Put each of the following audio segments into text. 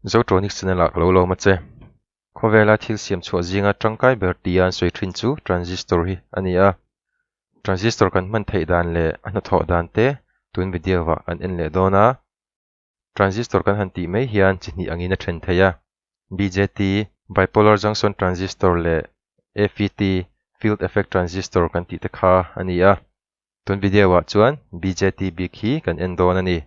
Zotronic channel ah ka lo lawm a che. Khawvela thil siam chhuah zinga tangkai ber tia an sawi thin chu transistor hi a ni a. Transistor kan hman theih dan leh a hnathawh dan te tun video ah kan en leh dawn a. Transistor kan han tih mai hian chi hnih angin a then thei a. BJT, Bipolar Junction Transistor, leh FET, Field Effect Transistor, kan tih te kha a ni a. Tun video ah chuan BJT bik hi kan en dawn a ni.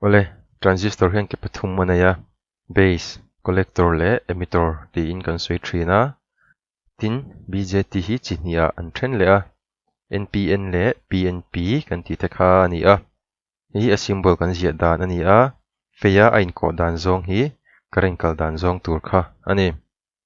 Awle, transistor hian ke pathum a nei a, base, collector leh emitter tiin kan sawi thin a, tin, BJT hi chi hniha an then leh a, NPN leh PNP kan tih te kha a ni a, hei hi a symbol kan ziah dan a ni a, feia a inkawh dan zawng hi current kal dan zawng tur kha a ni.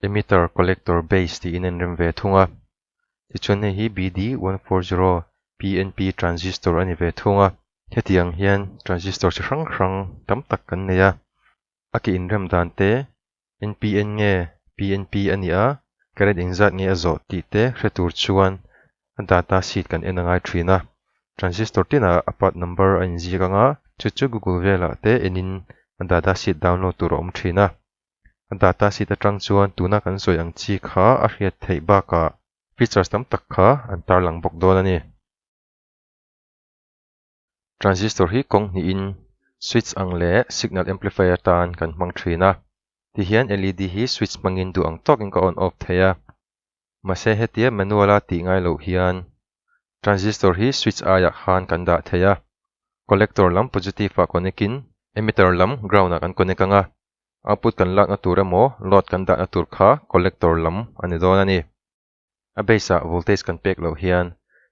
Emitter, Collector, Base tiin a inrem ve thung a. Tichuan hei hi BD one four zero PNP transistor a ni ve thung a. Hetiang hian transistor chi hrang hrang tam tak kan nei a. A ke inrem dan te, NPN nge PNP a ni a, current eng zat nge a zawh tih te hre tur chuan a data sheet kan en a ngai thin a. Transistor tinah a part number a inziak ang a, chu chu Google velah te enin a data sheet download tur a awm thin a. A data sheet atang chuan tuna kan sawi ang chi kha a hriat theih bakah features tam tak kha an tarlang bawk dawn a ni. Transistor hi kawng hnihin switch ang leh signal amplifier tan kan hmang thin a, tihian led hi switch hmangin duh ang tawkin ka on off thei a. Mahse hetia manual a tih ngai loh hian transistor hi switch aiah khan kan dah thei a, collector lam positive-ah connect-in emitter lam ground-ah kan connect ang a, Output kan lakna tur emaw load kan dahna tur kha collector lam a ni dawn a ni. A base ah voltage kan pek loh hian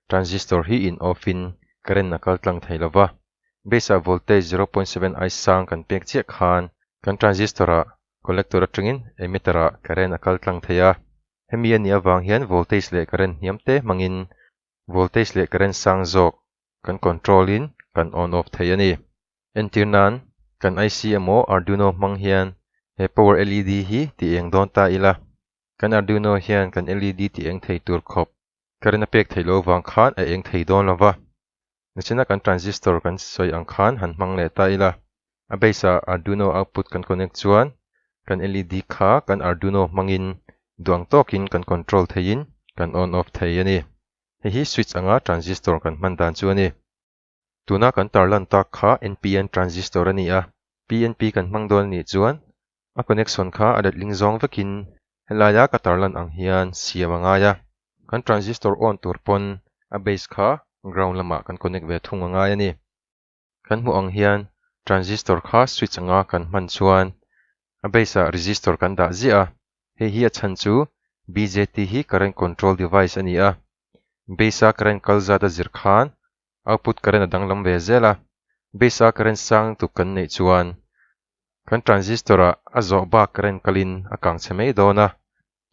transistor hi in off in current a kal tlang thei lova. Base ah voltage zero point seven I sang kan pek chiah khan kan transistor ah collector atangin emitter ah current a kal tlang thei a. Hemi a nih avang hian voltage leh current hniam te hmangin voltage leh current sang zawk kan control in kan on off thei a ni. Entir nan kan IC emaw Arduino hmang hian he power LED hi ti eng dawn ta ila, kan Arduino hian kan LED ti eng thei tur khawp current a pek thei lo vang khan a eng thei dawn lova. Nihchenna kan transistor kan sawi ang khan han hmang leh ta ila, a base ah Arduino output kan connect chuan kan LED kha kan Arduino hmangin duang tawkin kan control theiin kan on off thei a ni. Hei hi switch anga transistor kan hman dan chu a ni. Tuna kan tarlan tak kha NPN transistor a ni a, PNP kan hmang dawn a nih chuan A connection kha a let ling zawng vekin helaia ka tar lan ang hian siam a ngai a, kan transistor on tur pawn a base kha ground lamah kan connect ve thung a ngai a ni. Kan hmuh ang hian transistor kha switch anga kan hman chuan a base ah resistor kan dah ziah a, hei hi a chhan chu BJT hi current control device a ni a, base a current kal zat a zir khan output current a danglam ve zel a, base a current sang tuk kan neih chuan kan transistor a a zawh bak current kalin a kang chhe mai dawn a,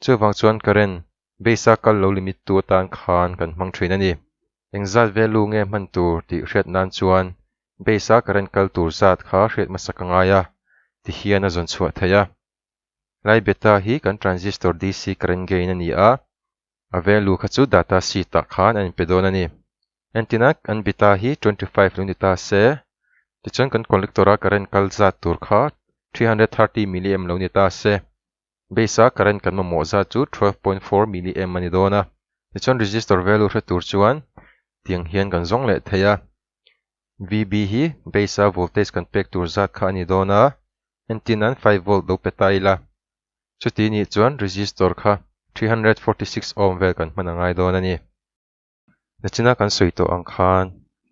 chuvang chuan current base a kal lo limit tu atan khan kan hmang thin a ni. Engzat value nge hman tur tih hriat nan chuan base a current kal tur zat kha hriat hmasa ka ngai a ti hian a zawn chhuah theih a. Lai beta hi kan transistor DC current gain a ni a, A value kha chu data sheet ah khan a in pe dawn a ni. Entina an bita hi twenty five lo ni ta se, tichuan kan collector a current kal zat tur kha three hundred thirty milliamp lo ni ta se. Base a current kan mamawh zat chu twelve point four milliamp a ni dawn a. Tichuan resistor value hre tur chuan tiang hian kan zawng leh thei a. VB hi base a voltage kan pek tur zat kha a ni dawn a, entina five volt lo pe ta ila. Chuti nih chuan resistor kha three hundred forty six ohm vel kan hman a ngai dawn a ni. Nachina kan sawi tawh ang khan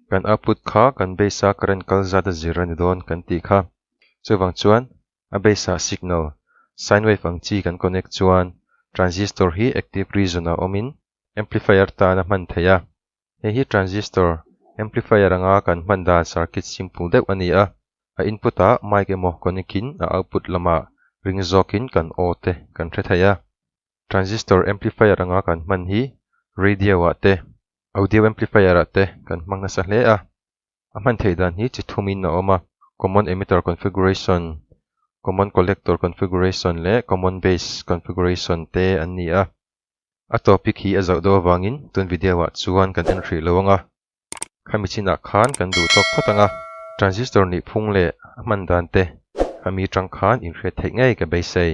kan output kha kan base a current kal zat a zir a ni dawn kan tih kha. Chuvang chuan a base ah signal, sine wave ang chi kan connect chuan transistor hi active region ah awmin amplifier tan a hman thei a. Hei hi transistor, amplifier anga kan hman dan circuit simple deuh a ni a, a input a mic emaw connect in a output lama ring zawk in kan aw te kan hre thei a. Transistor amplifier anga kan hman hi radio ah te, audio amplifier ah te kan hmang nasa hle a. A hman theih dan hi chi thum in a awm a, common emitter configuration, common collector configuration leh common base configuration te an ni a. A topic hi a zauh do avangin tun video ah chuan kan en hrih lo ang a, kha mi chinah khan kan duh tawk phawt ang a, transistor nih phung leh a hman dan te kha mi tang khan inhriat theih ngei ka beisei.